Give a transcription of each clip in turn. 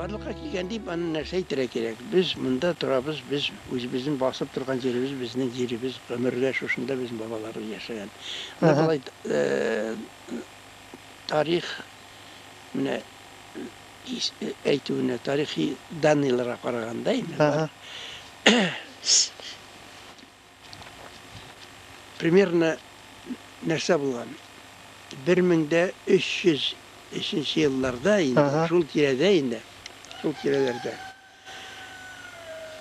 барлыкка килгән дип аны нәрсә әйтергә кирәк без монда торабыз без үзебезнең басып торган җиребез безнең җиребез гомергә шушында безнең бабаларыбыз яшәгән менә болай тарих менә әйтүенә тарихи данныйларга караганда инде бар. Примерно нәрсә булган? 1300 нче елларда инде, шул тирәдә инде, шул тирәләрдә.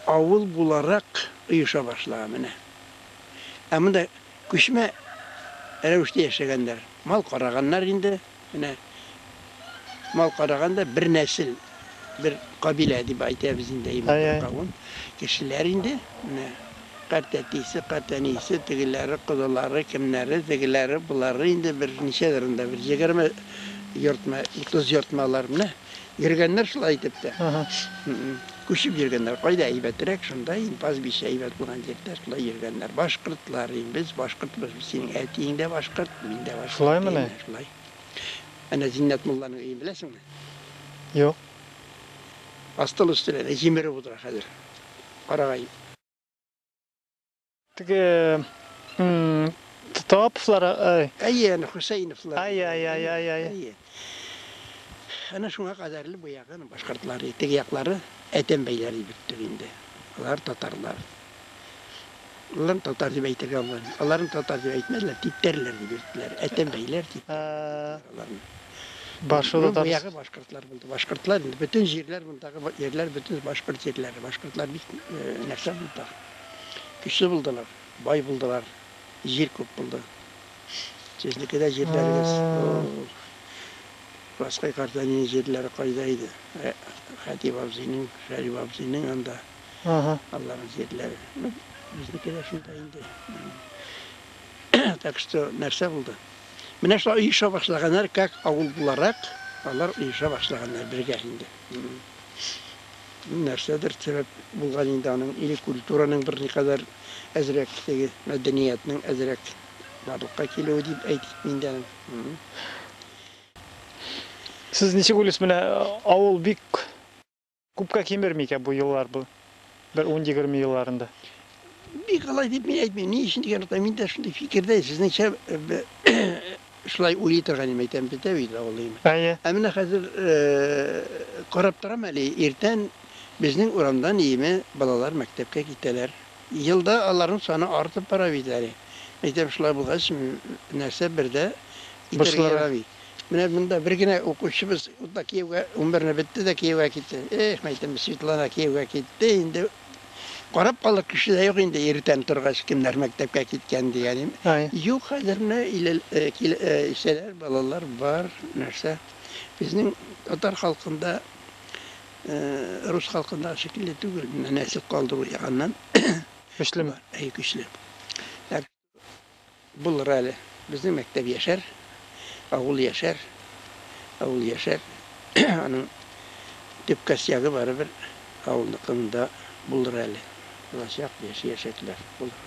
Авыл буларак оеша башлаган менә. Ә монда күчмә рәвештә яшәгәннәр. Мал караганнар инде, менә мал караган да бер нәсел, бер кабилә дип әйтәбез инде, әйбәт бер кавым кешеләр инде. Менә картәтисе, картәнисе, тегеләре, кодалары, кемнәре, тегеләре, болары инде бер ничәдер монда, бер егерме йортмы, утыз йортмы алар, менә. Йөргәннәр шулай итеп тә. Күчеп йөргәннәр. Кайда әйбәтрәк, шунда инде пастбище әйбәт булган җирдә шулай йөргәннәр. Башкортлар инде, без башкортбыз. Синең әтиең дә башкорт, мин дә башкорт. Шулаймы ни? Шулай. Әнә Зиннәт мулланың өен беләсеңме? Юк. Астыл өстенә җимереп утыра хәзер. Карагай. Теге Топслар, ай. Әйе, аны Хусейновлар. Ай, ай, ай, ай, ай. Әнә шуңа кадәрле бу ягы башкортлар, теге яклары әтәм бәйләр дип беттек инде. Алар татарлар. Алар татар дип әйтергә алмады. Аларны татар дип әйтмәделәр, типтәрләр дип йөрттеләр. Әтәм бәйләр дип. Башылы да ягы башкортлар булды. Башкортлар инде бөтен җирләр мондагы җирләр бөтен башкорт җирләре. Башкортлар бик нәрсә булды. Көчле булдылар, бай булдылар, җир күп булды. Сезнеке дә җирләрегез. Раскай картәнинең җирләре кайда иде? Ә, Хәтип абзыйның, Шәриф абзыйның анда. Ага. Аларның җирләре. Ну, безнеке дә шунда инде. Так что, нәрсә булды? Менә шулай оеша башлаганнар, как авыл буларак, алар оеша башлаганнар бергә инде. Нәрсәдер сирәк булган инде аның, или культураның бер никадәр әзрәк теге, мәдәниятнең әзрәк барлыкка килүе дип әйтик мин дә. Сез ничек уйлыйсыз, менә авыл бик күпкә кимерми икән бу еллар, бу бер ун-егерме елларында? Бик алай дип мин әйтмим. Ни өчен дигән вакытта мин дә шундый фикердә, сезнеңчә шулай уйлый торган идем, әйтәм бит, ә бит авылыйм. Әйе. Ә менә хәзер карап торам әле, иртән безнең урамдан иеме балалар мәктәпкә китәләр. Елда аларның саны артып бара бит әле. Әйтәм, шулай булгач, нәрсә бер дә итәргә ярамый. Менә монда бер генә укучыбыз ул да кияүгә, унберне бетте дә кияүгә китте. Эх, мәйтәм, Светлана кияүгә китте, инде Карап калыр кеше дә юк инде, иртән торгач, кемнәр мәктәпкә киткән дигәнем. Юк, хәзер менә исәләр, балалар бар, нәрсә. Безнең татар халкында, рус халкында шикелле түгел, менә нәсел калдыру ягыннан. Көчлеме? Әй, көчле. Булыр әле. Безнең мәктәп яшәр, авыл яшәр, авыл яшәр. Аның төп костягы барыбер авылныкында булыр әле. Булачак, яшәячәкләр. Булыр.